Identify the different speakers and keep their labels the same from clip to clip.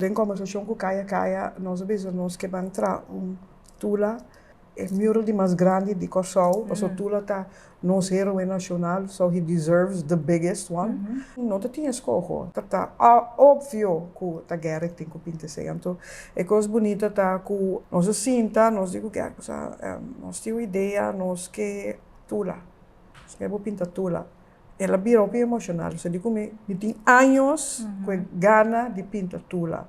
Speaker 1: Den conversacion cu Kaya Kaya nos a bisa nos ke ban tra un Tula e mural di mas grandi di Corsou, paso Tula ta nos heroe nacional, so he deserves the biggest one. No ta tin escoho, ta ta obvio cu ta guera e tin cu pinta esey. Anto e cos bunita ta cu nos a sinta, nos di cu guera cosa, nos tin un idea, nos ke Tula, nos ke bo pinta Tula. El a bira hopi emocional, so di cu mi, mi tin años cu e gana di pinta Tula.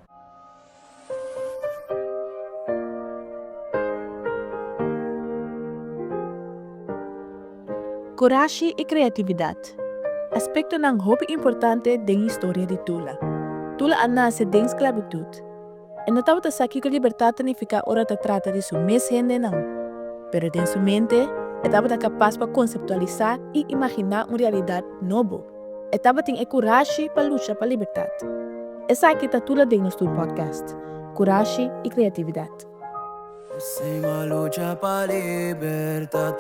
Speaker 2: Curashi y creatividad, aspectonan hopi importante den historia di Tula. Tula a nace den sclavitud. E no tabata sa kiko libertat ta nifiká ora e ta trata di su mes hendenan. Pero den su mente, e tabata kapas pa konseptualisá i imaginá un realidat nobo. E tabatin e kurashi pa lucha pa libertat. Esaki ta tur la den nos tur podcast, Kurashi i Kreatividat.
Speaker 3: Sima lucha pa libertat,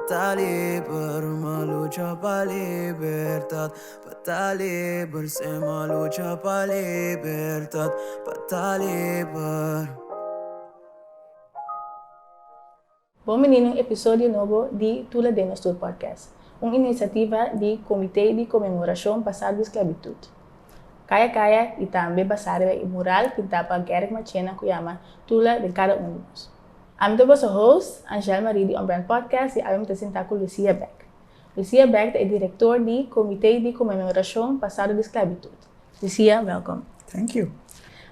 Speaker 3: ta liber, ma lucha pa libertat. Pa ta liber sem a lucha pa libertad pa ta liber.
Speaker 4: Bon bini na un episodio nobo di Tula den nos tur podcast, un inisiativa di Comité di Conmemoracion Basá di Sclavitud, Kaya Kaya y tambe basá riba e mural pintá pa Gerrit Machena cu yama Tula den cada un di nos. Ami ta boso host, Angel Marie di On Brand Podcast y awe mi ta sintá cu Lucia Beck. Lucia Beck ta e direktor di Komité di Komenorashon Pasado di Sklabitut. Lucia, wèlkom. Thank you.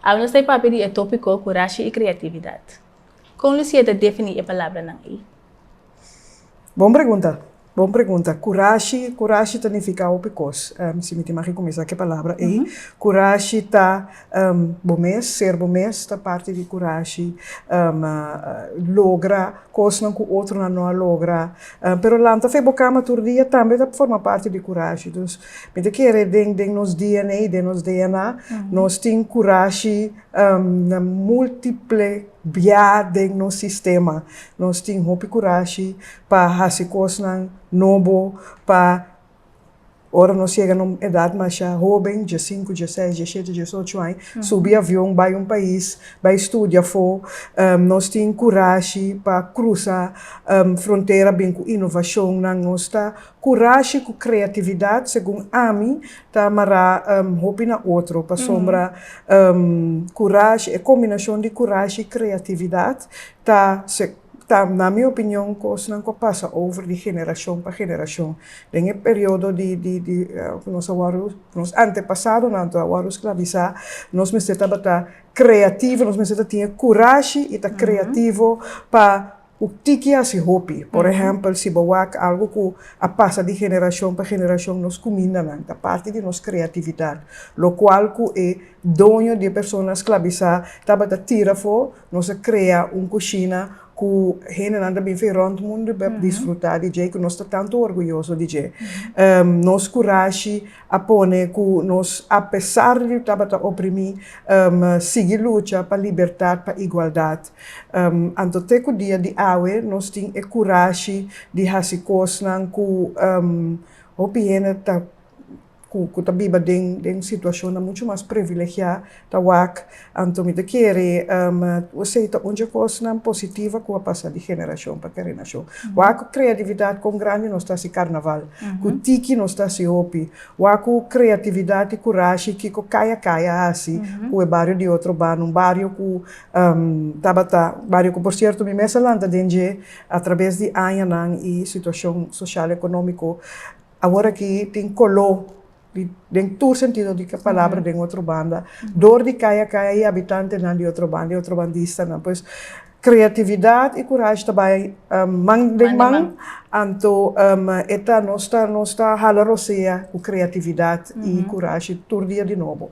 Speaker 1: Awe nos ta e papia
Speaker 4: di e tópiko Kurashi i Kreatividat. Kon Lucia ta definí e palabranan ei?
Speaker 1: Bon pregunta, bon pregunta. Kurashi, kurashi ta nifiká hopi kos. Si mi tin maki kuminsá ku e palabra ei. Kurashi ta. Bo mes, ser bo mes ta parti di kurashi. Logra kosnan ku otronan no a logra. Pero lanta fe bo kama tur dia tambe ta forma parti di kurashi. Dus mi ta kere den den nos DNA, den nos DNA, nos tin kurashi na multiple biá den nos sistema. Nos tin hopi kurashi pa hasi kosnan nobo, pa. Ora nos yega na un edat masha hoben, dje sinku, dje seis, dje shete, dje ocho aña, subi avion bai un pais, bai studia afó, nos tin kurashi pa krusa frontera bin ku inovashonnan. Nos ta kurashi ku kreatividat, segun ami, ta mará hopi na otro, pasobra kurashi, e kombinashon di kurashi i kreatividat ta. Ta, na mi opinion, kosnan ku a pasa over di generashon pa generashon. Den e periodo di di di ku nos a wòrdu, ku nos antepasadonan a wòrdu sklavisá, nos mester tabata kreativo, nos mester ta tin e kurashi i ta kreativo pa ku tiki hasi hopi. Por ehèmpel, si bo wak algu ku a pasa di generashon pa generashon, nos kumindanan ta parti di nos kreatividat, lokual ku e doño di e persona sklavisá tabata tira afó, Nos a krea un kushina ku hendenan ta bin fin rònt mundu pa disfrutá di dje, ku nos ta tantu orguyoso di dje. Nos kurashi a pone ku nos, apesar di tabata oprimí, sigui lucha pa libertat, pa igualdat. Anto te ku dia di awe nos tin e kurashi di hasi kosnan ku hopi hende ta. ku ta biba den den situashonnan muchu mas privilegiá ta wak. Anto mi ta kere ose ei ta un dje kosnan positiva ku a pasa di generashon pa kerenashon. Wak ku kreatividat kon grandi nos ta hasi karnaval, ku tiki nos ta hasi hopi. Wak ku kreatividat i kurashi kiko kaya kaya hasi ku e bario di otro banda, un bario ku tabata un bario ku por sierto mi mes a lanta den dje a traves di añanan i situashon soshal ekonómiko. Awor aki tin coló di den tur sentido di e palabra den otro banda dor di caya caya y habitantenan di otro banda y otro bandistanan pues creatividad y curashi ta bay man den man anto e ta nos ta nos ta hala rosea cu creatividad y curashi tur dia di nobo.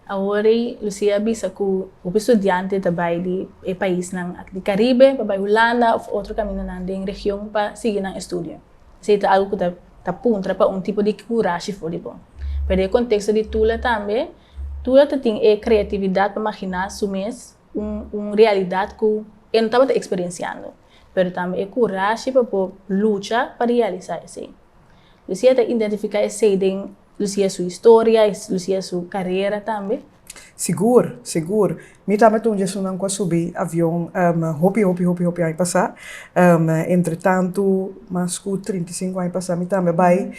Speaker 1: Awor ei
Speaker 4: Lucia a bisa cu hopi studiante ta bay di e paisnan aki di Caribe pa bay Hulanda of otro caminanan den region pa sigui nan estudio. Esey ta algo cu ta ta puntra pa un tipo di curashi for di bo. Pero den e contexto di Tula tambe, Tula ta tin e creatividad pa magina su mes un un realidad cu e no tabata experienciando, pero tambe e curashi pa por lucha pa realiza esey. Lucia ta identifica esey den Lo sigue su historia y lo sigue su carrera tambe?
Speaker 1: Sigur, sigur. Mi tambe ta un di esunnan cu a subi avion hopi, hopi, hopi, hopi aña pasa. Entretantu, mas cu trinta i sinku aña pasa mi tambe a bay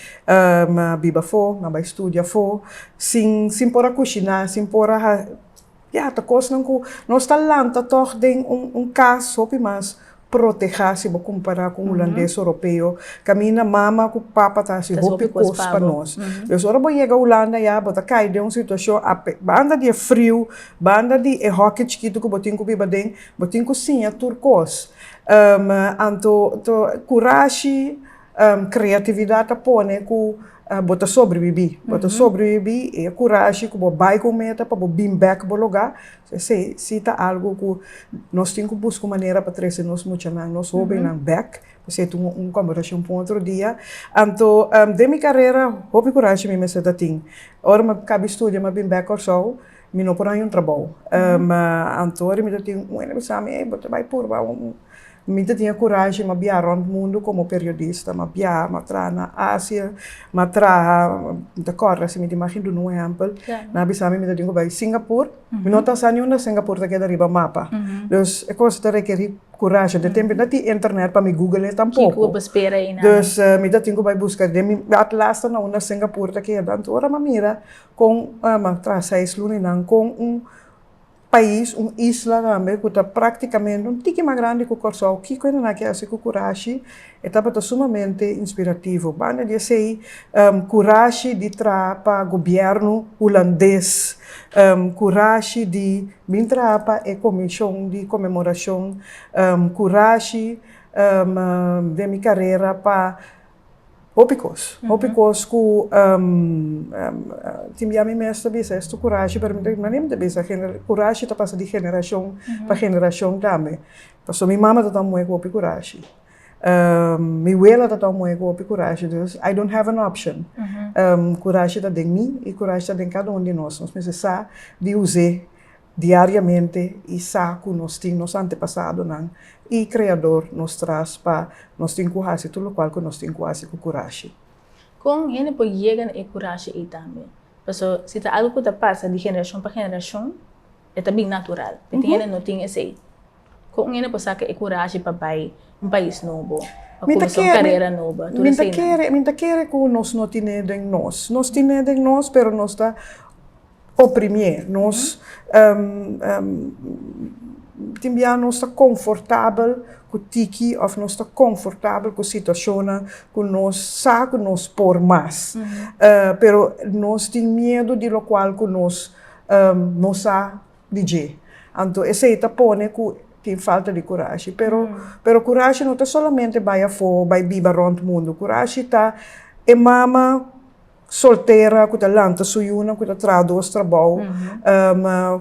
Speaker 1: biba afo, mi a bay studia afo, sin, sin por a cushina, sin por a. Ya ta kosnan ku nos ta lanta tòg den un kas hopi mas protehá si bo kumpará ku un hulandes o ropeo, kaminda mama ku papa ta hasi hopi kos pa nos. Pues ora bo yega Hulanda ya bo ta kai den un situashon banda di e friu, banda di e hòki chikitu ku bo tin ku biba den, bo tin ku siña tur kos. Anto, kurashi. Um, creatividad ta pone cu uh, bo ta sobrevivi. Bo ta sobrevivi e curashi cu bo bai cu un meta pa bo bin back bo loga. So ese si ta algo cu nos tin cu busca un manera pa trece nos muchanan, nos hobennan back. Pues e tuma un conversacion pa un otro dia. Anto um, den mi carera hopi curashi mi mester ta tin. Ora mi cabi studia mi a bin back Corsou. Mi no por haña un trabou. Ma anto mi ta tin un hende ku sa mi, ey bo ta bai purba un. Mi ta tin e kurashi, m'a biaha rònt mundu komo periodista, m'a biaha, m'a traha na Asia, m'a traha, mi ta kòrda si mi di mag duna un ehèmpel, nan a bisa mi mi ta tin ku bai Singapur, mi no ta sa ni unda Singapur ta keda riba mapa, dus e kos ta rekerí kurashi, den tempo no a tin internet pa mi gugle'é tampoko, dus mi ta tin ku bai buska den mi atlas ta na unda Singapur ta keda, anto ora m'a mira kon m'a traha seis luninan kon un pais, un isla tambe ku ta praktikamente un tiki mas grandi ku Kòrsou, kiko e na na ke hasi ku kurashi? E tabata sumamente inspirativo. Banda di esei kurashi di traha pa gobièrnu hulandes, kurashi di bin traha pa e komishon di komemorashon, kurashi den mi karera pa Hopi kos, hopi kos ku tin bia mi mes ta bisa estu kurashi pero mi mane mi ta bisa kurashi ta pasa di generashon pa generashon tambe pasobra mi mama ta tuma moe ku hopi kurashi mi wela ta tuma moe ku hopi kurashi dus i dont have an option kurashi ta den mi i kurashi ta den kada un di nos nos mester sa di huse diariamente y sa cu nos tin nos antepasadonan y Creador nos tras pa nos tin cu haci tur locual cu nos tin cu haci cu curashi. Con hende
Speaker 4: por yega na e curashi ey tambe? Paso si ta algo cu ta pasa di generacion pa generacion e ta bin natural, pe tin hende no tin esey. Con hende por saca e curashi pa bay un pais nobo, pa cuminsa un carera nobo, tur eseynan? Mi ta
Speaker 1: kere cu nos no tine den nos. Nos tine den nos pero nos ta O primié, nos tin bia nos ta konfortabel ku tiki òf nos ta konfortabel ku situashonnan ku nos sa ku nos por mas, pero nos tin miedu di lokual ku nos no sa di dje. Anto esei ta pone ku tin falta di kurashi, pero pero kurashi no ta solamente bai afó, bai biba rònt mundu, kurashi ta e mama. soltera ku ta lanta su yunan ku ta traha dos trabou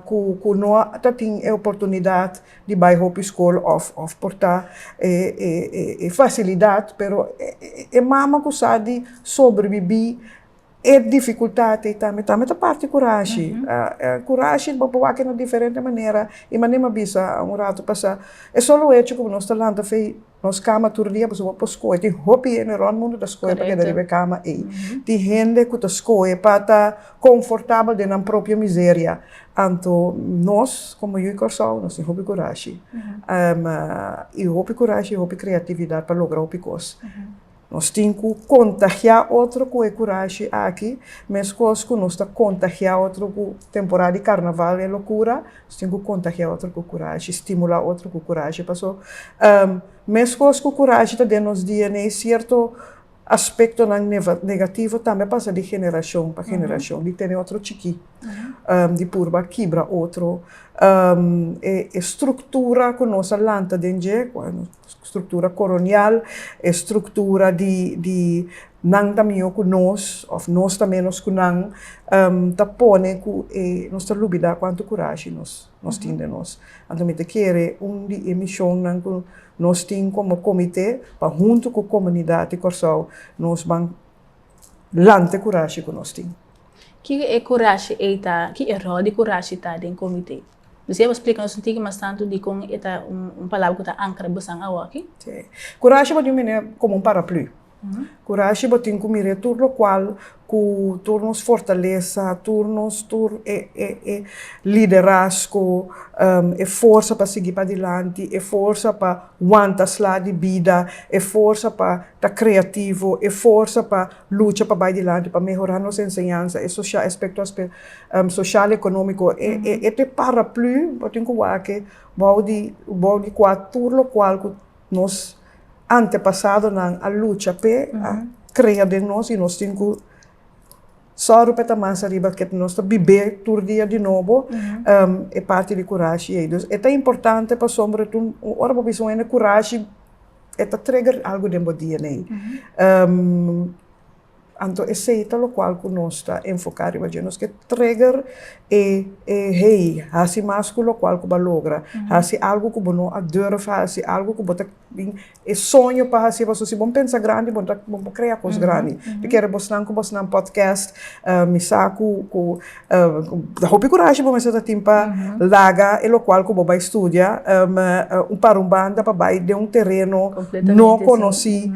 Speaker 1: ku no ta tin e oportunidat di bai hopi skol òf por ta e fasilidat pero e mama ku sa di sobrebibí e difikultat ei tambe tambe ta parti kurashi kurashi bo por wak e na diferente manera i manera mi a bisa un ratu pasá e solo hecho ku nos ta lanta fei. Nos kama tur dia boso bo por skohe. Tin hopi hende rònt mundu ta skohe pa keda riba e kama ei. Tin hende ku ta skohe pa ta konfortabel den nan propio miseria. Anto nos komo yu Kòrsou nos tin hopi kurashi i hopi kurashi i hopi kreatividat pa logra hopi kos. Nos tin ku kontagiá otro ku e kurashi aki, meskos ku nos ta kontagiá otro ku temporada di karnaval i e lokura, nos tin ku kontagiá otro ku kurashi, stimulá otro ku kurashi. Paso, meskos ku kurashi ta den nos dia nei, sierto aspektonan negativo tambe a pasa di generashon pa generashon, di tene otro chikí, di purba kibra otro. E struktura ku nos a lanta den dje. Struktura koronial, e struktura di di nan ta mihó ku nos òf nos ta ménos ku nan, ta pone ku e nos ta lubidá kuantu kurashi nos nos tin den nos. Anto mi ta kere un di e mishonnan ku nos tin komo komite pa huntu ku komunidat di Kòrsou nos ban lanta e kurashi ku nos tin. Ki e
Speaker 4: kurashi ei ta, ki e ròl di kurashi ta den komite? Nos siempre splica nos sunti'e mas tanto di con e ta un palabra cu
Speaker 1: ta
Speaker 4: ancra bosan awo
Speaker 1: aki.
Speaker 4: Si. Curashi bo tin cu
Speaker 1: mira
Speaker 4: como un paraplu.
Speaker 1: Curashi bo tin cu mira tur locual cu tur nos fortaleza, tur nos, tur e e e liderazgo, e forsa pa sigui padilanti, e forsa pa wanta sla di bida, e forsa pa ta creativo, e forsa pa Lucha pa bai dilanti, pa mehorá nos enseñansa, e soshal aspekto soshal, ekonómiko, e te paraplü bo tin ku wak bou di bou di kua tur lokual ku nos antepasadonan a lucha p'e, a krea den nos i nos tin ku sòru p'e ta mas ariba ke nos ta bib'é tur dia di nobo, e parti di kurashi ei. Dus e ta importante pasobra tur ora bo bisa un hende kurashi. e ta trigger algu den bo DNA. Anto esei ta lokual ku nos ta enfoká riba dje. Nos ke trigger e hei hasi mas ku lokual ku bo a logra. Hasi algu ku bo no a durf hasi, algu ku bo ta tin e soño pa hasi. Pasobra si bo pensa grandi bo ta, bo por krea kos grandi. Te kere bosnan ku bosnan podcast, mi sa ku ku. Hopi kurashi bo mester ta tin pa laga e lokual ku bo bai studia pa un banda pa bai den un tereno no konosí.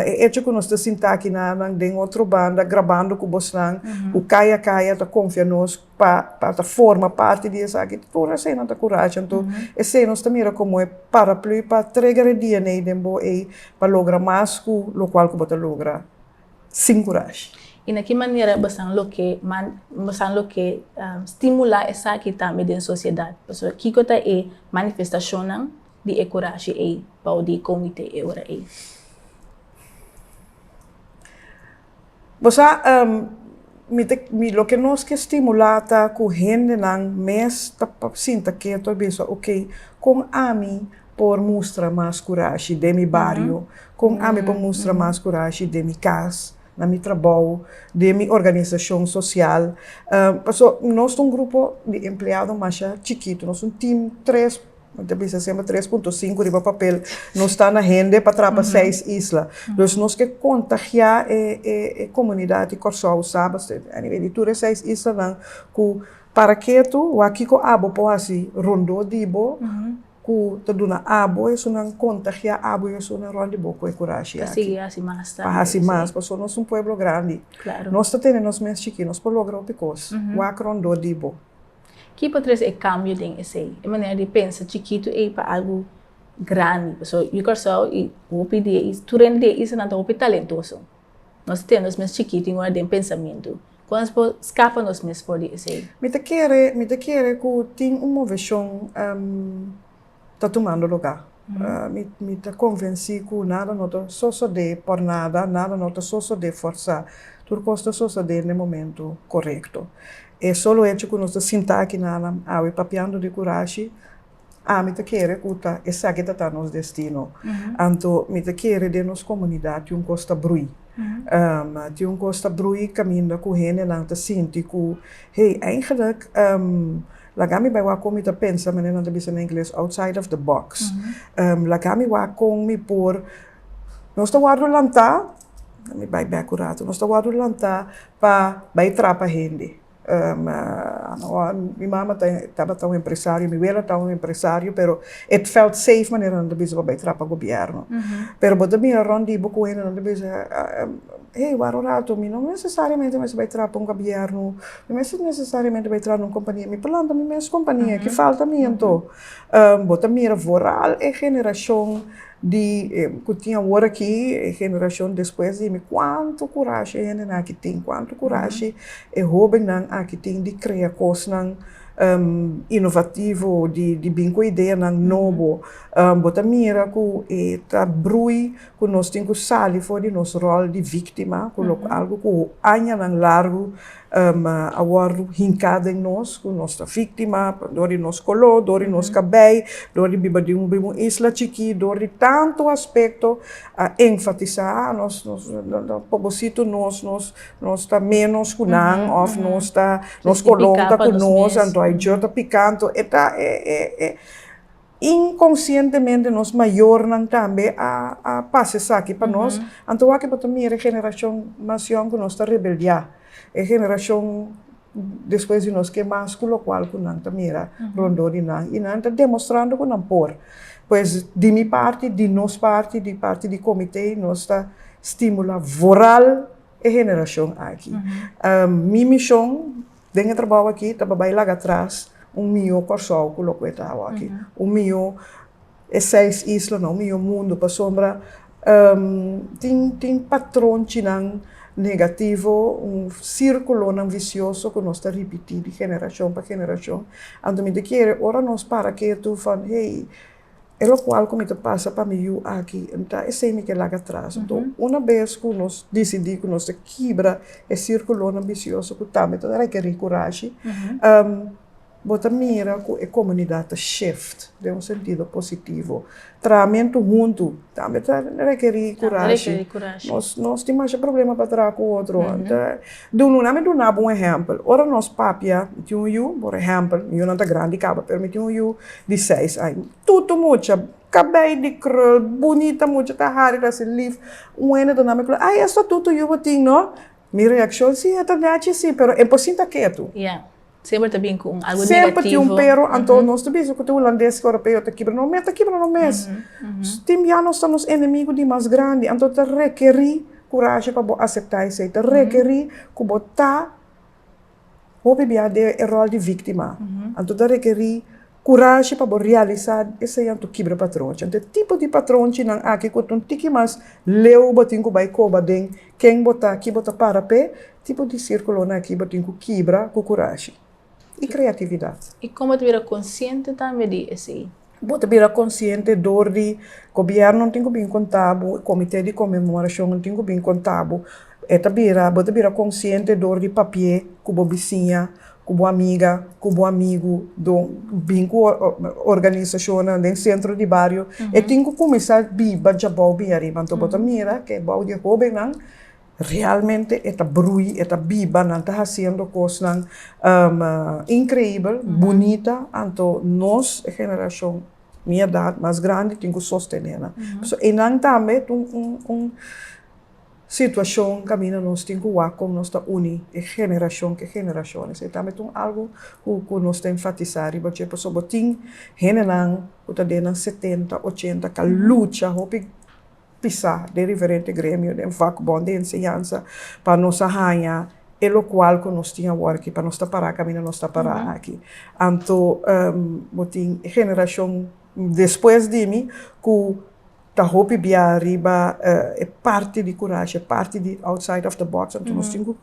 Speaker 1: E echo ku nos ta sinta aki na nan den otro banda grabando ku bosnan ku kaya kaya ta konfia nos pa pa ta forma parti di esaki tur eseinan ta kurashi anto esei nos ta mira komo e paraplu pa treger e dna den bo ei pa logra mas ku lokual ku bo ta logra. sin kurashi. I na ki manera
Speaker 4: basan loke man, basan loke stimulá esaki tambe den sosiedat? Pasobra kiko ta e manifestashonnan di e kurashi ei bou di e komitee e ora ei?
Speaker 1: Bo sa, mi ta, mi, loke nos ke stimulá ta ku hendenan mes ta sinta keto a bisa, oke, kon ami. por mustra mas kurashi den mi bario, kon ami por mustra mas kurashi den mi kas, na mi trabou, den mi organisashon sosial. Paso nos ta un grupo di empleado masha chikitu, nos ta un tim tres, mi ta bisa semper tres punto sinku riba papel nos ta na hende pa trapa seis isla. Dus nos ke kontagiá e komunidat di Kòrsou sa basket a nivel di tur e seis islanan ku para ketu, wak kiko abo por hasi rondó di bo, ku ta duna abo esunnan kontagiá abo i esunnan rònt di bo ku e kurashi aki. Ta sigui hasi mas tambe.
Speaker 4: Pa hasi mas, pasobra
Speaker 1: nos un pueblo grandi. Klaru. Nos ta tene nos mes chikí, nos por logra hopi kos. Wak rondó di bo. Ki por
Speaker 4: trese e kambio den esei? E manera di pensa chikitu ei pa algu grandi. Pasobra yu Kòrsou i hopi di e isla, tur hende di e islanan ta hopi talentoso. Nos tin nos mes chikito i un aden pensamentu. Kon nos por skapa nos mes for di esei? Mi ta kere, mi
Speaker 1: ta kere ku tin un moveshon ta tumando lugá. Mi, mi ta konvensí ku nada no ta sosodé por nada, nada no ta sosodé forsá. Tur kos ta sosodé na e momentu korekto. E solo echo ku nos ta sinta aki nan awe papiando di kurashi, Ami ta kere ku ta esaki ta ta nos destino. Anto mi ta kere den nos komunidat tin un kos ta brui. Tin un kos ta brui kaminda ku hendenan ta sinti ku hey, eigenlik laga mi bai wak kon mi ta pensa, manera nan ta bisa na ingles, outside of the box. Laga mi wak kon mi por, nos ta wòrdu lanta, mi bai bèk un ratu, nos ta wòrdu lanta pa bai trapa hende. Mi mama tabata un empresario, mi wela ta un empresario, pero e felt safe manera nan ta bisa pa bai traha pa gobièrnu. Pero bo ta mira rònt di bo ku hende nan ta bisa, hei wòrdu un ratu, mi no nesesariamente mester bai traha pa un gobièrnu, mi no nesesariamente mester bai traha na un kompania, mi por lanta mi mes kompania, ki falta mi anto? Bo ta mira vooral e generashon. Di ku tin awor aki, e generashon despues di mi, kuantu kurashi e hendenan aki tin, kuantu kurashi e hobennan aki tin di krea kosnan inovativo, di bin ku ideanan nobo. Bo ta mira ku e ta brui ku nos tin ku sali for di nos ròl di víktima, ku lo algu ku añanan largu ma a wòrdu hinká den nos, ku nos ta víktima dor di nos koló, dor di nos kabei, dor di biba den un isla chikí, dor di tantu aspekto, a enfatisá, a nos pobositu nos, nos nos ta ménos ku nan òf nos ta nos koló ta ku nos, anto a e djor ta piká. Anto e ta e. Inkonsientemente nos mayornan tambe a pasa esaki pa nos, anto wak e por ta mira e generashon mas yòn ku nos ta rebeldiá, e generashon despues di nos ke mas ku lokual ku nan ta mira rondó di nan i nan ta demostrando ku nan por. Pues di mi parti, di nos parti, di parti di komité nos ta stimulá voral e generashon aki. Mi mishon Den e trabou aki ta bai laga atras un mihó Kòrsou ku lo ku e ta awa aki. Un mihó e seis islanan, un mihó mundu pasobra tin tin patronchinan negativo, un sirkulonan visioso ku nos ta ripití di generashon pa generashon. Anto mi ta kere ora nos para ketu fo hey E lokual ku mi ta pasa pa mi yu aki no ta esei mi ke laga tras. Nto, una bes ku nos disidí ku nos ta kibra e sirkulonan bisioso ku tambe ta rekerí kurashi, bo ta mira ku e komunidat ta shift den un sentido positivo. Trahamentu huntu tambe ta rekerí kurashi. Nos tin masha problema pa traha ku otro. Dun Luna mi duna bo un ehèmpel. Ora nos papia, mi tin un yu, por ehèmpel, mi yunan ta grandi caba, pero mi tin un yu di seis aña. Tutu mucha, cabei di krul, bunita mucha, ta hari, ta haci lif. Un hende ta nami kla, Ay, esto tutu yu bo tin, no? Mi reaccion, Sí, e ta naci si, pero e por sinta ketu. Semper ta bin
Speaker 4: ku un algu negativo. Semper tin un pero,
Speaker 1: anto
Speaker 4: nos ta
Speaker 1: bisa ku ta hulandes ku ropeo ta kibra no mes, ta kibra no mes. Tin bia nos ta nos enemigu di mas grandi, anto ta rekerí kurashi pa bo aseptá esei, ta rekerí ku bo ta hopi bia den e ròl di víktima, anto ta rekerí. Kurashi pa bo realisá esei anto kibra patronchi. Anto e tipo di patronchinan aki ku ta un tiki mas leu bo tin ku bai koba den ken bo ta, ki bo ta para p'e tipo di sirkulonan aki bo tin ku kibra ku kurashi i kreatividat. I kon bo ta bira
Speaker 4: konsiente tambe di esei? Bo ta bira
Speaker 1: konsiente dor di gobièrnunan tin ku bin konta bo, komite di konmemorashonnan tin ku bin konta bo. E ta bira, bo ta bira konsiente dor di papié ku bo bisiña ku bo amiga, ku bo amigu, don bin ku organisashonnan den sentro di bario, e tin ku kuminsá biba djabou bin ariba. Anto bo ta mira ku e bou di e hóbennan realmente e ta brui, e ta biba, nan ta hasiendo kosnan inkreibel, bunita, anto nos e generashon mi edat mas grandi tin ku sostenénan. Einan tambe ta un. Situacion caminda nos tin cu wak con nos ta uni e generacion cu e generacion. Esey tambe ta un algo cu nos ta enfatisa riba dje pasobra bo tin hendenan cu ta den nan setenta, ochenta ca lucha hopi pisa den diferente gremio, den vakbond, den enseñansa pa nos a haña e locual cu nos tin awor aki, pa nos ta para caminda nos ta para aki. Anto bo tin e generacion despues di mi cu. Ta hopi bia riba e parti di kurashi, e parti di outside of the box, anto nos tin ku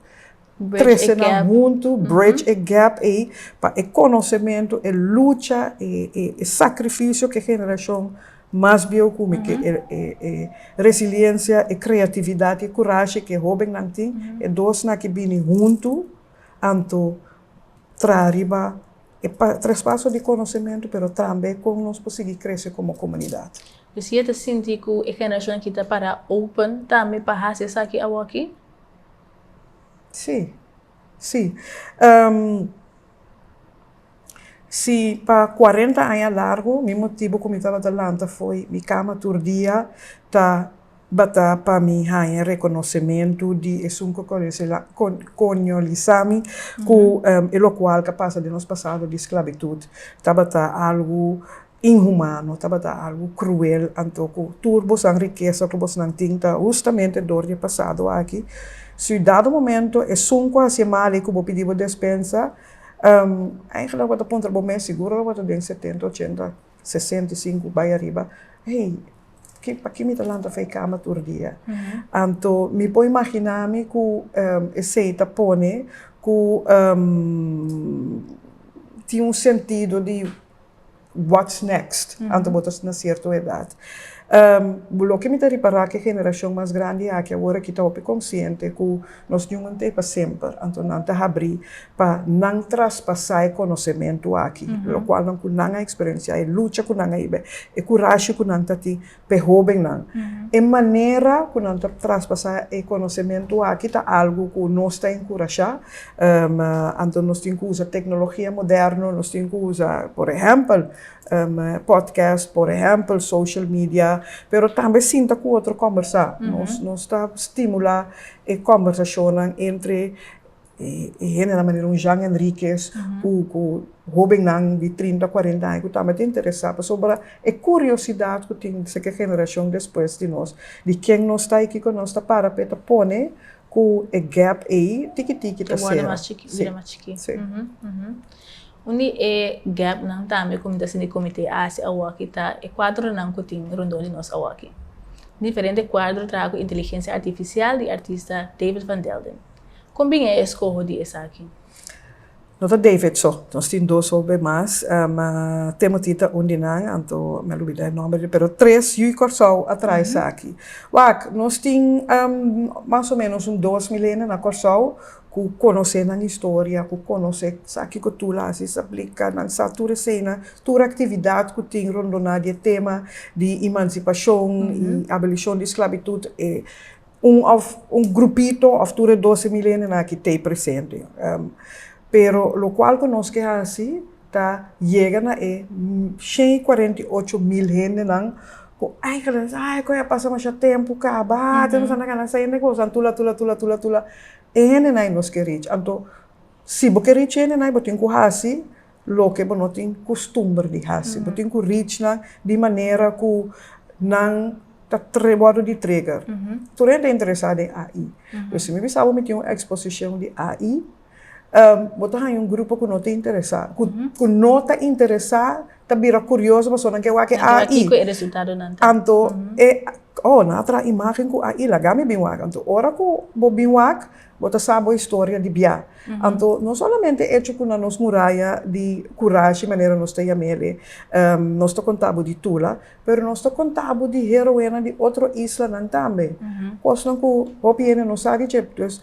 Speaker 1: trese nan huntu, bridge e gap ei, pa e konosementu, e lucha, e sakrifisio ku e generashon mas bieu kume, ku e resiliensia, e kreatividat i e kurashi ku e hobennan tin, e dos na ki bini huntu, anto. traha riba e traspaso di konosementu pero tambe kon nos por sigui krese komo komunidat. P'e si e ta sinti
Speaker 4: ku e generashon aki ta para open tambe pa hasi esaki awoki?
Speaker 1: Sí, sí. Si pa kuarenta aña largu mi motibu ku mi tabata lanta foi mi kama tur dia ta. Ba ta pa mi haña rekonosementu di esun ku koloñolisá mi ku e lokual ku a pasa den nos pasado di sklabitut tabata algu inhumano, tabata algu kruel. Anto ku tur bosnan rikesa ku bosnan tin ta hustamente dor di e pasado aki. Si dado momento esun ku a hasié mal ei ku bo pidi bo despensa, eigelik bo ta puntra bo mes, siguro lo bo ta den setenta, ochenta. sesenta i sinku bai ariba, hey, ki pa ki mi ta lanta fei kama tur dia? Anto mi por imaginá mi ku esei ta pone ku tin un sentido di wats nèkst anto bo ta na sierto edat. Loke mi ta ripará ku e generashon mas grandi aki awor aki ta hopi konsiente ku. Nos Jungan ta e pa semper, anto nan ta habrí pa nan traspasá e konosementu aki, lokual nan ku nan a eksperensiá, e lucha ku nan a hib'é, e kurashe ku nan ta tin pa e hóbennan. E manera ku nan ta traspasá e konosementu aki ta algu ku nos ta enkurashá, anto nos tin ku usa teknologia moderno, nos tin ku usa, por ehèmpel, pòdkèst, por ehèmpel, social media, pero tambe sinta ku otro kòmbersá. Nos ta stimulá E kòmbersashonnan entre e hende na manera un Jean Henriquez ku ku hobennan di trinta, kuarenta aña ku tambe ta interesá pasobra e kuriosidat ku tin seke generashon despues di nos di ken nos ta i kiko nos ta para p'e ta pone ku e gèp ei tiki tiki ta sera.
Speaker 4: Un di e gèpnan tambe ku mi ta sinti ku mi te hasi awoki ta e kuadronan ku tin rondó di nos awoki. Diferente kuadro traha ku inteligensia artifisial di artista David van Delden. Kon bini e eskoho di esaki? No ta
Speaker 1: David so, nos tin dos hopi mas. Timothy ta un di nan, anto mi a lubida e nòmber di, pero tres yu Kòrsou a traha esaki. Wak, nos tin mas o ménos un dos milenia na Kòrsou Ku konosé nan historia, ku konosé sa kiko tur a hasi, sa plika, nan sa tur eseinan, tur aktividat ku tin rondoná di e tema di imansipashon i abolishon di sklabitut, e un òf un grupito òf tur e dose milenionan aki t'ei presente. Pero lokual ku nos ke hasi, ta yega na e shen i kuarenta i ocho mil hendenan ku eigenlijk ta ay koe a pasa masha tempu kaba te nos a na gana sa e negoshi anto la tula tula tula tula e hendenan i nos ke rich anto si bo ke rich hendenan bo tin ku hasi loke bo no tin kustumber di hasi bo tin ku rich nan di manera ku nan ta tre wòrdu di treger tur hende ta interesá den AI pues mi bisa bo mi tin un eksposishon di AI. Ehm, bo ta haña un grupo ku no ta interesá, ku, ku no ta interesá, ta bira kurioso paso nan ke wak e AI. Kiko e resultadonan
Speaker 4: ta. Anto, e,
Speaker 1: oh, nan a traha imágen ku AI, laga mi bin wak. Anto, ora ku bo bin wak, bo ta sa bo historia di bia. Anto, no solamente e echo ku na nos muraya di kurashi, manera nos ta yam'el'e, ehm, nos ta konta bo di Tula, pero nos ta konta bo di heroenan di otro islanan tambe. Kosnan ku hopi hende no sa di dje. Dus.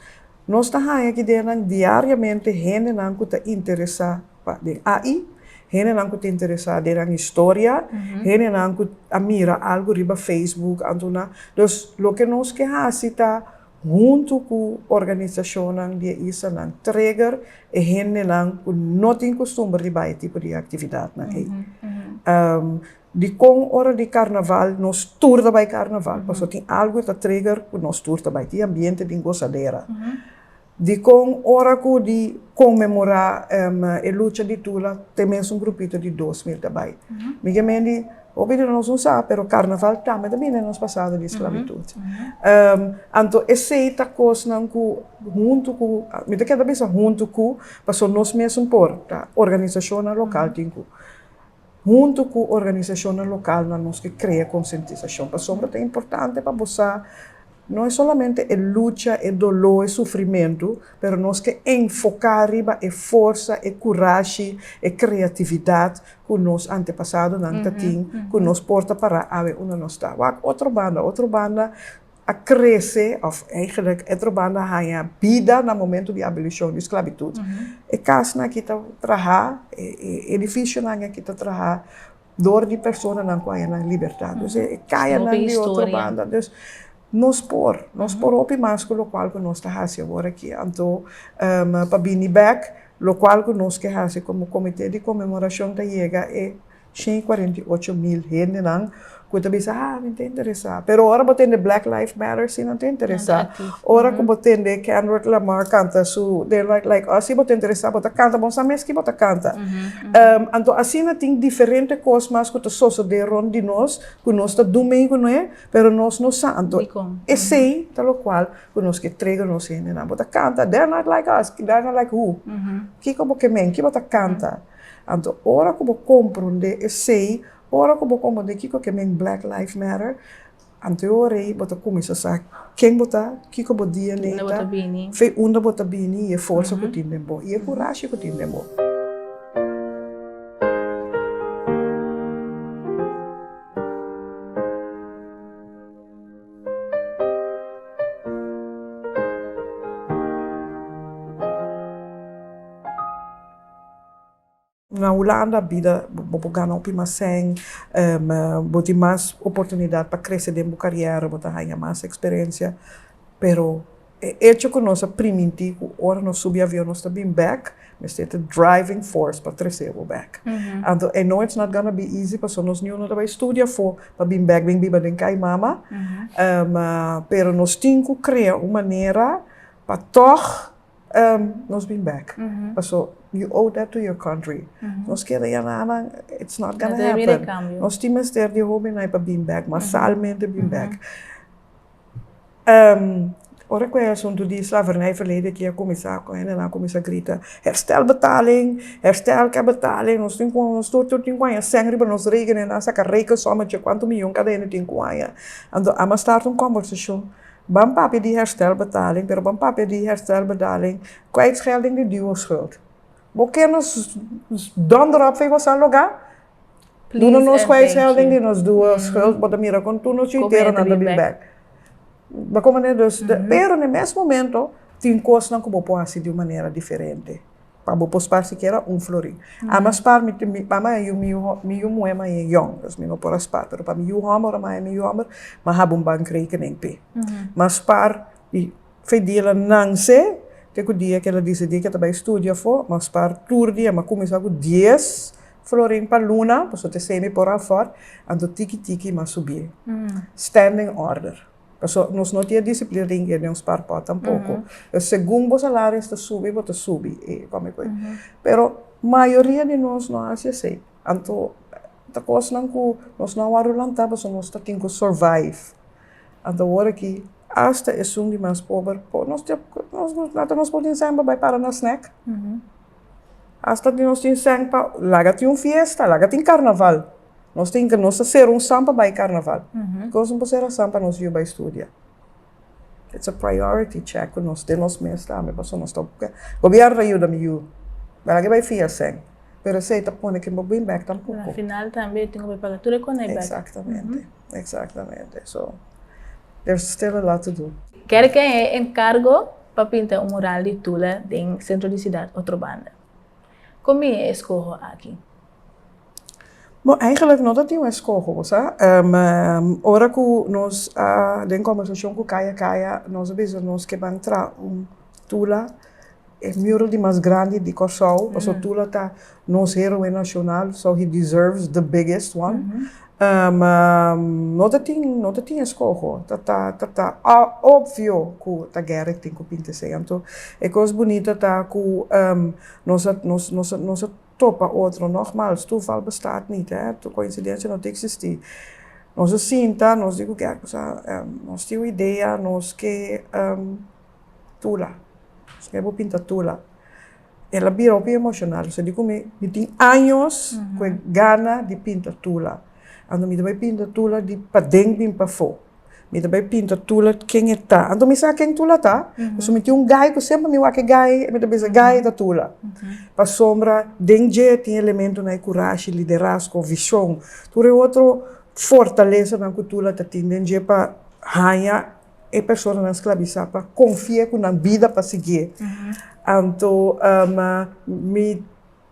Speaker 1: Nos ta haña ki ideanan diariamente, hendenan ku ta interesá pa den AI, hendenan ku ta interesá den nan historia, hendenan ku a mira algu riba Facebook anto nan. Dus loke nos ke hasi ta huntu ku organisashonnan di e islanan treger e hendenan ku no tin kustumber di bai e tipo di aktividatnan ei. Dikon ora di karnaval nos tur ta bai karnaval? Paso tin algu e ta trigger ku nos tur ta bai. Tin ambiente di gosadera. Dikon ora ku di konmemorá e lucha di Tula te mes un grupito di dos mil ta bai? Mi ke mendi hopi di nos no sa, pero karnaval tambe ta bini den nos pasado di sklabitut. Anto esei ta kosnan ku huntu ku, mi ta keda bisa huntu ku, paso nos mesun por, ta organisashonnan lokal tin ku. Huntu ku organisashonnan lokal nan nos ke krea konsientisashon. Pasobra ta importante pa bo sa no e solamente e lucha, e doló, e sufrimentu, pero nos ke enfoká riba e forsa, e kurashi, e kreatividat ku nos antepasadonan ta tin, ku nos por ta pará awe unda nos ta. Wak otro banda, otro banda, a krese, òf eigenlik e trobando a haña bida na momentu di abolishon di sklabitut. E kasnan aki ta trahá, e edifisionan aki ta trahá dor di personanan ku haña nan libertat. Dus e kayanan di otro banda. Dus nos por, nos por hopi mas ku lokual ku nos ta hasi awor aki. Anto pa bini bèk, lokual ku nos ke hasi komo Komité di Konmemorashon ta yega e. shen i cuarenta i ocho mil hendenan cu ta bisa, ah, mi ta interesa. Pero ora bo tende Black Life Matter, si nan ta interesa. Ora cu bo tende Kendrick Lamar canta su They're Not Like Us, si bo ta interesa, bo ta canta, bo no sa mes ki bo ta canta. Anto asina tin diferente cos mas cu ta sosode rond di nos, cu nos ta dun mei cu ne, pero nos no sa. Anto esey ta locual cu nos ke trega nos hendenan. Bo ta canta, They're Not Like Us, They're Not Like Who? Kico bo ke men? Ki bo ta canta? Anto ora ku bo komprondé esei, ora ku bo komprondé kiko ke men Black Life Matter, anto e ora ei bo ta kuminsá sa ken bo ta, kiko bo DNA ta, fe unda bo ta bini i e forsa ku tin den bo i e kurashi ku tin den bo. Na Hulanda bida bo por gana hopi mas sèn, bo tin mas oportunidat pa krese den bo karièra, bo ta haña mas eksperensia. Pero e echo ku nos a primintí ku ora nos subi avion nos ta bin bèk, mester ta driving force pa tres'é bo bèk. Anto I know it's not gonna be easy pasobra nos niñonan ta bai studia afó pa bin bèk bin biba den kai mama, pero nos tin ku krea un manera pa tòg. nos bin bek paso you owe that to your country nos quier a yana nan it's not gonna happen nos
Speaker 4: tin mester
Speaker 1: di
Speaker 4: hopi
Speaker 1: nan pa bin bek masalmente bin bek ora cu e asunto di slavernij verleden kia cuminsa cu hende nan cuminsa grita herstel betaling herstel ke betaling nos tin cu nos tur tur tin cu haya seng riba nos rekening nan saca reken someter cuanto miyon cada hende tin cu haya a mas start un conversacion. Ban papia di herstelbetaling, pero ban papia di herstelbedaling kwijtschelding di duurschuld. Bo ken nos dondrop fei bo sa loga? Duna nos kwijtschelding di nos duurschuld, bo ta mira kon tur nos yu intero nan ta bin bek. Bo komo ne? Pero ne mes momento tin kosnan ku bo por hasi di un manera diferente. pa bo por spar sikiera un flori. A mi a spar mi tin mi mama a yu mi yu hò mi yu muhe maya e yòn dus mi no por a spar pero pa mi yu hòmber ora maya mi yu hòmber mi a haba un bankrekening p'e mi a spar i fe dia la nanse te ku dia ke la disidí ke ta bai studia afó mi a spar tur dia mi a kuminsá ku dies florin pa luna pasobra te semi por afòrt anto tiki tiki mi a subí standing order. Pasobra nos no tin e disiplina di hinga den un spar pòt tampoko. Pues segun bo salario ta subi, bo ta subi e kòme ku e. Pero mayoria di nos no a hasi esei. Anto ta kosnan ku nos no a wòrdu lantá pasobra nos ta tin ku survive. Anto awor aki asta esun di mas pober po nos tin hasta nos por tin sèn pa bai para na snèk. Asta nos tin sèn pa laga tin un fiesta, laga tin karnaval. Nos tin ke, nos ta sera un saan pa bai karnaval. Dikos nos por sera saan pa nos yu bai studia? It's a priority check ku nos den nos mes tambe, paso nos ta ocupa ke Gobierno ta yuda mi yu, mira ke bai fin esei, pero esei ta pone ke bo bin bek tampoco. Na final tambe yu tin
Speaker 4: ku bai paga tur e konai bek. Exactamente,
Speaker 1: exactamente. So, there's still a lot to do. Ker ke e
Speaker 4: encargo pa pinta un mural di Tula den centro di ciudad otro banda. Con mi e escoho aki?
Speaker 1: Bo, eigenlijk no ta tin un escoho, bo sa. Ora cu nos a den conversacion cu Kaya Kaya, nos a bisa nos ke ban traha un tula, e mural di mas grandi di Corsou, pasobra tula ta nos heroe nacional, so he deserves the biggest one. Ma no ta tin no ta tin eskoho. Ta ta ta ta obvio ku ta guera e tin ku pinta esei. Anto e kos bunito ta ku nos a nos nos a nos a topa otro. Nogmals, toeval bestaat nit hè, koinsidensia no ta eksistí. Nos a sinta, nos di ku kèrkosa nos tin un idea, nos ke tula, nos ke bo pinta tula. el a bira hopi emoshonal, so di ku mi, mi tin años ku e gana di pinta tula, anto mi ta bai pinta tula di paden bin pafó, mi ta bai pinta tula ken e ta, anto mi sa ken tula ta, pasobra mi tin un gai ku semper mi wak e gai mi ta bisa gai ta tula, pasobra den dje tin elementonan e kurashi, liderasko, vishon, tur e otro fortalesanan ku tula ta tin den dje pa haña. e personanan sklabisá pa konfié ku nan bida pa siguié. Anto mi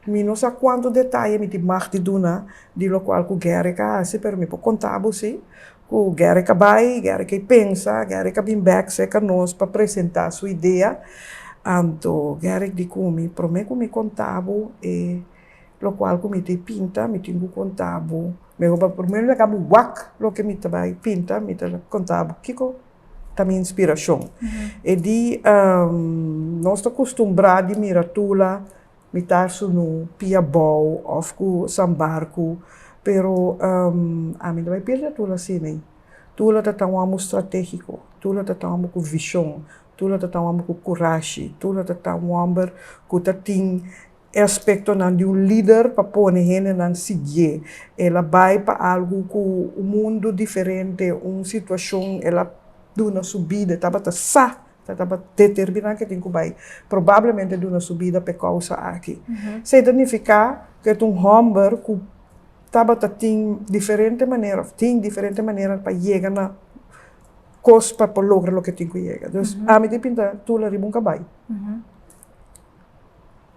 Speaker 1: mi no sa kuantu detaye mi tin mag di duna di lokual ku Gerrit a hasi, pero mi por konta bo si, ku Gerrit a bai, Gerrit a pensa, Gerrit a bin bèk serka nos pa presentá su idea. Anto Gerrit di ku mi, Promé ku mi konta bo e Lokual ku mi ta pinta, mi tin ku konta bo. Mi a roba primero laga bo wak loke mi ta bai pinta, mi ta konta bo kiko ta mi inspirashon. E di nos ta kustumbrá di mira tula, mitar sunú, pia bou òf ku sambarku, pero ami no bai pirdé tula asina. Tula ta tawamba bo stratégiko, tula ta tawamba bo ku vishon, tula ta tawamba bo ku kurashi, tula ta tawamba bo ku ta tin e aspektonan di un lider pa pone hendenan siguié. El a bai pa algu ku un mundu diferente, un situashon el a duna su bida, e tabata sa ku e tabata determiná ku e tin ku bai probablemente duna su bida pa e kousa aki. Esei ta nifiká ku e ta un hòmber ku tabata tin diferente manera òf tin diferente manera pa yega na kos pa por logra loke tin ku yega. Ami tin pinta tur la riba un kabai.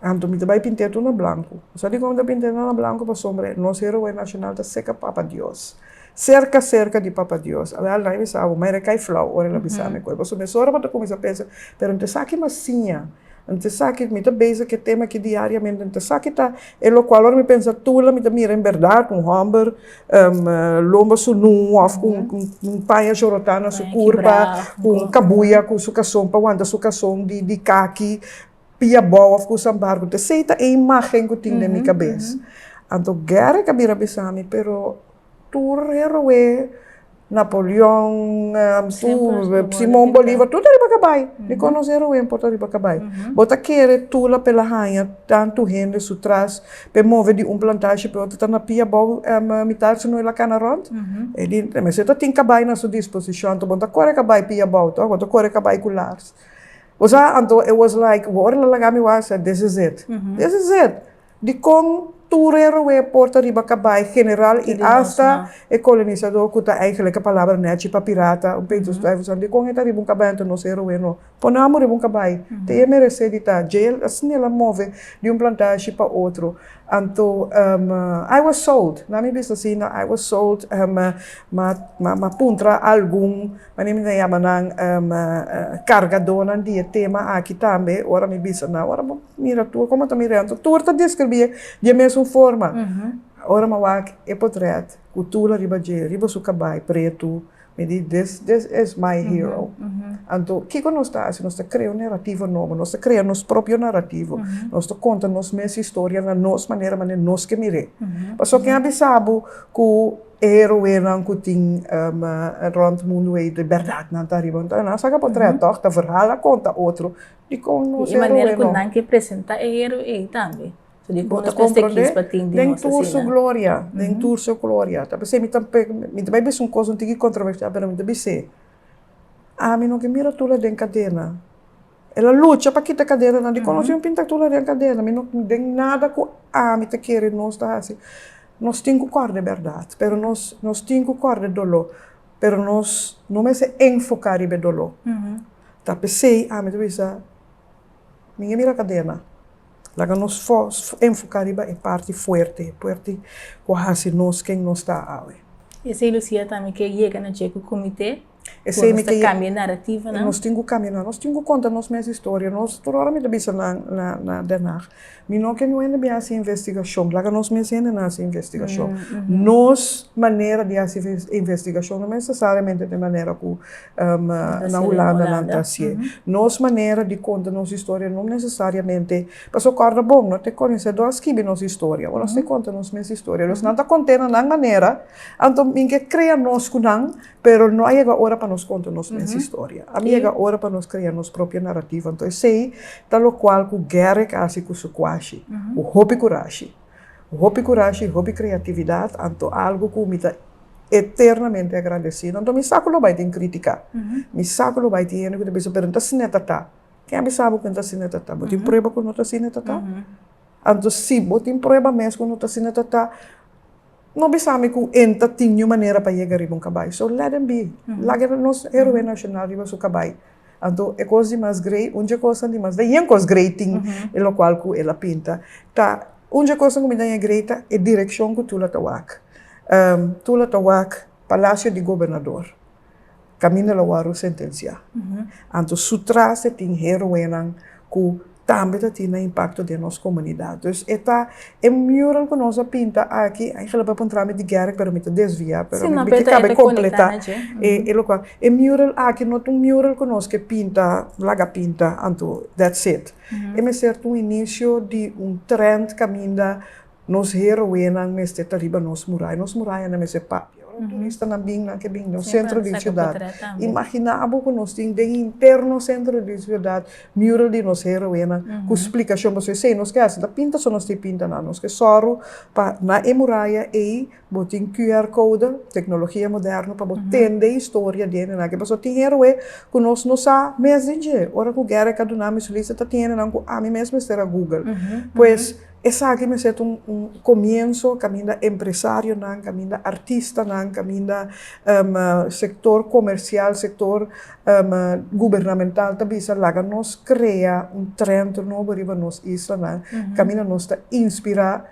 Speaker 1: Anto mi ta bai pinté tur na blanku. Sa dikon mi ta pinté tur na blanku? Pasobra nos heroe nashonal ta serka Papa Dios. Serka serka di Papa Dios. Al al nan a bisa bo, maire kai flau ora el a bisa mi kos. Pasobra mi a sora pa ta kuminsá pensa, pero N ta esaki mas siña, N ta esaki, mi ta base ku e tema aki diariamente, N ta esaki ta e lokual ora mi pensa tur la mi ta mira en bèrdat un hòmber. lomba su nu of ku un paña chorotá na su kurpa, ku un kabuya ku su kason pa wanta su kason di kaki, pia bou of kusa barko. Esei ta e imágen ku tin den mi kabes. Anto Gary ka bira bisami, pero tur e roe. Napoleon, Simon Bolivar, tur ta riba kabai. Mi konosé Rubén por ta riba kabai. Bo ta kere tula p'e la haña tantu hende su tras p'e move di un plantashe p'e otro, ta na pia abou mitar si no el a kana rònt? Mester ta tin kabai na su disposishon to. Bo no ta kore kabai pia abou tòg, bo ta kore kabai ku lars. Bo sa, anto e wòs like, ora lo laga mi wòs, this is it, this is it. Di kon tur e roe por ta riba kabai general i asta e kolonisadó ku ta eingelijk e palabra nèchi pa pirata, un peito stuivelzang, di kon e ta riba un kabai anto nos e roe no. Pone amo riba un kabai ta e meresé di ta jail asina el a move di un plantashi pa otro. Anto I was sold, nan mi bisa asina, I was sold, mi a puntra algun Ma mi ta yama nan kargadónan di e tema aki tambe, ora mi bisa nan, ora bo mira tur komo ta mi rèntro, tur ta deskribié di e mesun forma. Ora mi a wak e potrèt ku tul ariba dje, riba su kabai pretu, mi di this this is my hero. Anto kiko nos ta hasi? Nos ta krea un narativo nobo, nos ta krea nos propio narativo, nos ta konta nos mes historia na nos manera manera nos ke mir'é. Pasobra ken a bisa bo ku. E heroenan ku tin rònt mundu ei di bèrdatnan ta riba. Enton nan sa ka por traha tòg, ta verhal a konta otro dikon nos heroenan. Di e manera ku nan ke
Speaker 4: presentá e heroe ei tambe. So dikon nos mester kis pa tin di nos asina? Den
Speaker 1: tur su gloria, den tur su gloria. Ta p'esei mi ta mi ta bai bisa un kos un tiki kontroversial pero mi ta bis'é, ami no ke mira tur la den kadena. El a lucha pa kita kadenanan di kono. Si mi pinta tur la den kadena, mi no den nada ku ami ta kere nos ta hasi. Nos tin ku kòrda e bèrdat, pero nos nos tin ku kòrda e doló, pero nos no mester enfoká riba e doló. Ta p'esei ami ta bisa, mi ke mira kadena, laga nos enfoká riba e parti fuerte, e parti ku a hasi nos ken nos ta awe. Esei Lucia
Speaker 4: tambe ke yega na dje ku kumité. Esei mi ta
Speaker 1: kambia e narrativa
Speaker 4: nan. Nos tin ku kambia nan. Nos tin
Speaker 1: ku konta nos mes historia. Nos, tur ora mi ta bisa nan na, na Den Haag, mi no ke no hende bin hasi investigashon. Laga nos mes hendenan hasi investigashon. Nos manera di hasi investigashon no nesesariamente den manera ku na Hulanda nan ta hasié. Nos manera di konta nos historia no nesesariamente, pasobra e kòrda bon, no ta konesedó a skibi nos historia. Nos ta konta nos mes historia. Nos nan ta konté na nan manera, anto mi ke krea nos ku nan Pero no a yega ora pa nos konta nos mes historia. A yega ora pa nos krea nos propio narativo. Anto esei ta lokual ku Garrick a hasi ku su kuashi, ku hopi kurashi. Ku hopi kurashi, hopi kreatividat, anto algu ku mi ta eternamente agradesido. Anto mi sa ku lo bai tin kritika, mi sa ku lo bai tin hende ku ta bisa, pero no ta asina ta ta. Ke a bisa bo ku no ta asina ta ta? Bo tin prueba ku no ta asina ta ta? Anto si bo tin prueba mes ku no ta asina ta ta. No bisami ku en ta tin ñu manera pa yega riba un kabai. So let dem bi. Laga nos heroe nashonal riba su kabai. Anto e kos di mas grei, un dje kosnan di mas. Ta yen kos grei tin e lokual ku el a pinta. Ta un dje kosnan ku mi ta yen grei ta e direkshon ku Tula ta wak. Tula ta wak Palasio di Gobernador. Camino la wòrdu sentensiá. Anto su trase tin héroenan ku tambe ta tin nan impakto den nos komunidat. Dus e ta e mural ku nos a pinta aki, a hègera por entrá mi di gèrk pero mi ta desviá, pero mi bin kaba di kompletá e lokal. E mural aki no ta un mural ku nos ke pinta, laga pinta anto dètsit. E mester ta un inisio di un trènt kaminda Nos heroenan mester ta riba nos muraya, nos murayanan mester papia ora turistanan bin, nan ke bin nos sentro di siudat. Imaginá abo ku nos tin den interno sentro di siudat mural di nos heroenan ku splikashon, pasobra esei nos ke hasi ta pinta so nos tin pinta nada, nos ke sòru pa na e muraya ei Bo tin QR code, tecnologia moderno pa bo tende e historia di hendenan aki. Pasobra tin heroe cu nos no sa mes den dje. Ora cu guera e ka duna mi solista ta tin hendenan cu ami mes mester a google. Pues esaki mester ta un comienso caminda empresarionan, caminda artistanan, caminda sector comercial, sector gubernamental ta bisa laga nos crea un trend nobo riba nos islanan caminda nos ta inspira.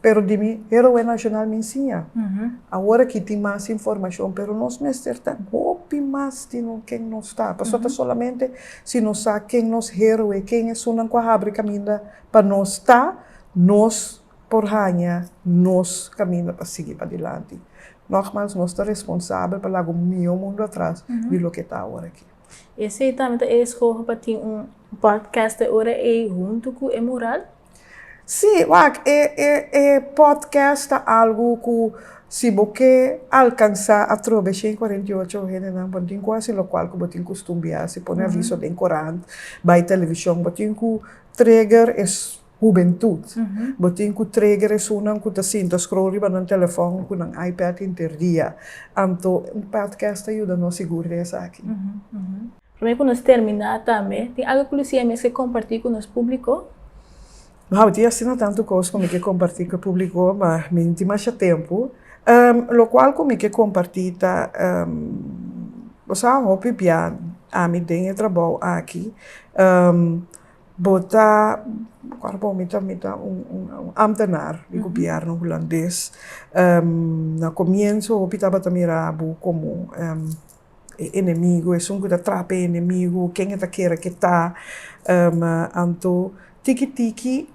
Speaker 1: Pero di mi Héroe Nacional mi siña. Awor aki tin mas informacion, pero nos mester ta hopi mas di no ken nos ta. Paso ta solamente si nos sa ken nos héroe, ken esunnan cu a habri caminda pa nos ta, nos por haña nos caminda pa sigui padilanti. Nogmaals, nos ta responsabel pa laga un miyo mundu atras di loke ta awor aki. Esei tambe ta
Speaker 4: e escoge pa tin un podcaster ora ey hunto cu e mural? Sí,
Speaker 1: wak e e e podcast ta algu ku si bo ke alkansá atrobe shen kuarenta i ocho hendenan bo no tin ku hasi lokual ku bo tin ku stumbiá hasi pone aviso den korant, bai televishon, bo tin ku treger e hubentut, bo tin ku treger esunnan ku ta sinta scroll riba nan telefòn ku nan ipad interdia, anto un podcast ta yuda nos sigur den esaki. Promé
Speaker 4: ku nos terminá tambe, tin algu ku Lucía mes ke kompartí ku nos públiko? Wou,
Speaker 1: tin asina tantu kos ku mi ke kompartí ku e públiko, ma mi no tin masha tempu. Lokual ku mi ke kompartí ta, bo sa un hopi bia ami den e trabou aki, bo ta, bo kual bo mi ta mi ta un un un ámtenaar di gobièrnu hulandes. Na komienso hopi tabata mirá bo komo. e enemigu, esun ku ta trapa e enemigu, ken e ta kere ku e ta. Anto tiki tiki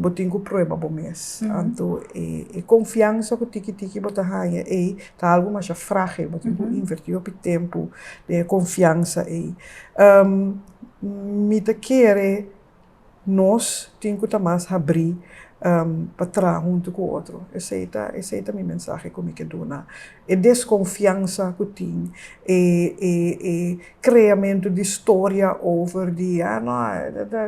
Speaker 1: bo tin ku prueba bo mes. Anto e konfiansa ku tiki tiki bo ta haña ei ta algu masha fragil, bo tin ku invertí hopi tempu den e konfiansa ei. Mi ta kere. nos tin cu ta mas habrí pa traha huntu cu otro. Esei ta, esei ta mi mensahe cu mi ke duna. E desconfiansa cu tin, e, e, e creamento di storia over di, ah, no,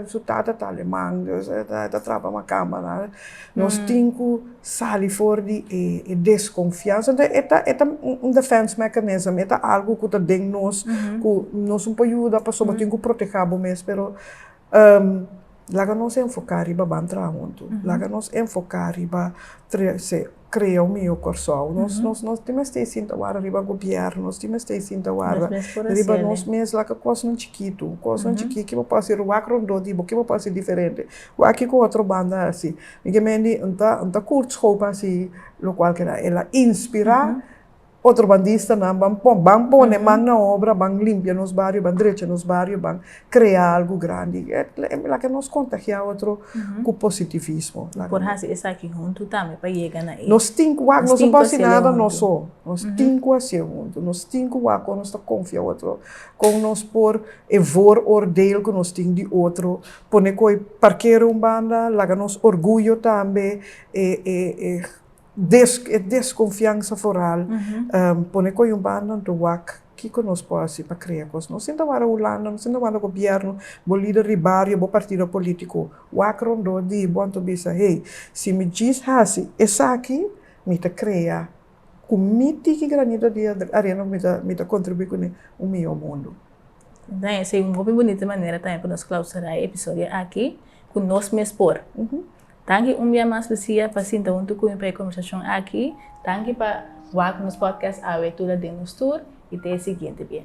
Speaker 1: su tata ta aleman, e ta traha pa macámara, nos tin cu sali for di e, e desconfiansa. Entonces, e ta, e ta un defense mechanism, e ta algu cu ta den nos, cu nos no por yuda pasobra tin cu protehá bo mes, pero. laga nos enfoká riba ban traha huntu, laga nos enfoká riba krea un mihó Kòrsou, nos nos nos tin mester sinta wara riba gobièrnu, nos tin mester i sinta wara riba nos mes, laga kosnan chikitu, kosnan chikí ki bo por hasi, wak rondó di bo, ki bo por hasi diferente, wak ki ku otro banda a hasi, mi ke mendi, N ta N ta Kurt Schouw pa hasi lokualkera, el a inspirá Otrobandista-nan ban pon, ban pone man na obra, ban limpia nos bario, ban drecha nos bario, ban krea algu grandi. Laga nos kontagiá otro ku positivismo. Por hasi esaki
Speaker 4: huntu tambe pa yega na e. Nos tin ku wak, nos no
Speaker 1: por hasi nada nos so. Nos tin ku hasié huntu. Nos tin ku wak kon nos ta konfia otro, kon nos por e vooroordeel ku nos tin di otro pone koi parkera un banda, laga nos orguyo tambe e. E desconfiansa foral pone coe un banda un to wak, kico nos por haci pa crea cos? No sinta wara Hulanda, no sinta wara gobierno, bo lider di bario, bo partido politico, wak rondó di bo anto bisa, hey, si mi djis haci esaki, mi ta crea cu mi tiki granito di arena cu mi ta mi ta contribui cun'e un miyor mundo. Esei
Speaker 4: un hopi bunita manera tambe pa nos clausura e episodio aki, cu nos mes por. Danki un bia mas Lucia pa sinta huntu cu mi pa e conversacion aki. Danki pa wak nos podcast awe tur a den nos tur y te e siguiente bia.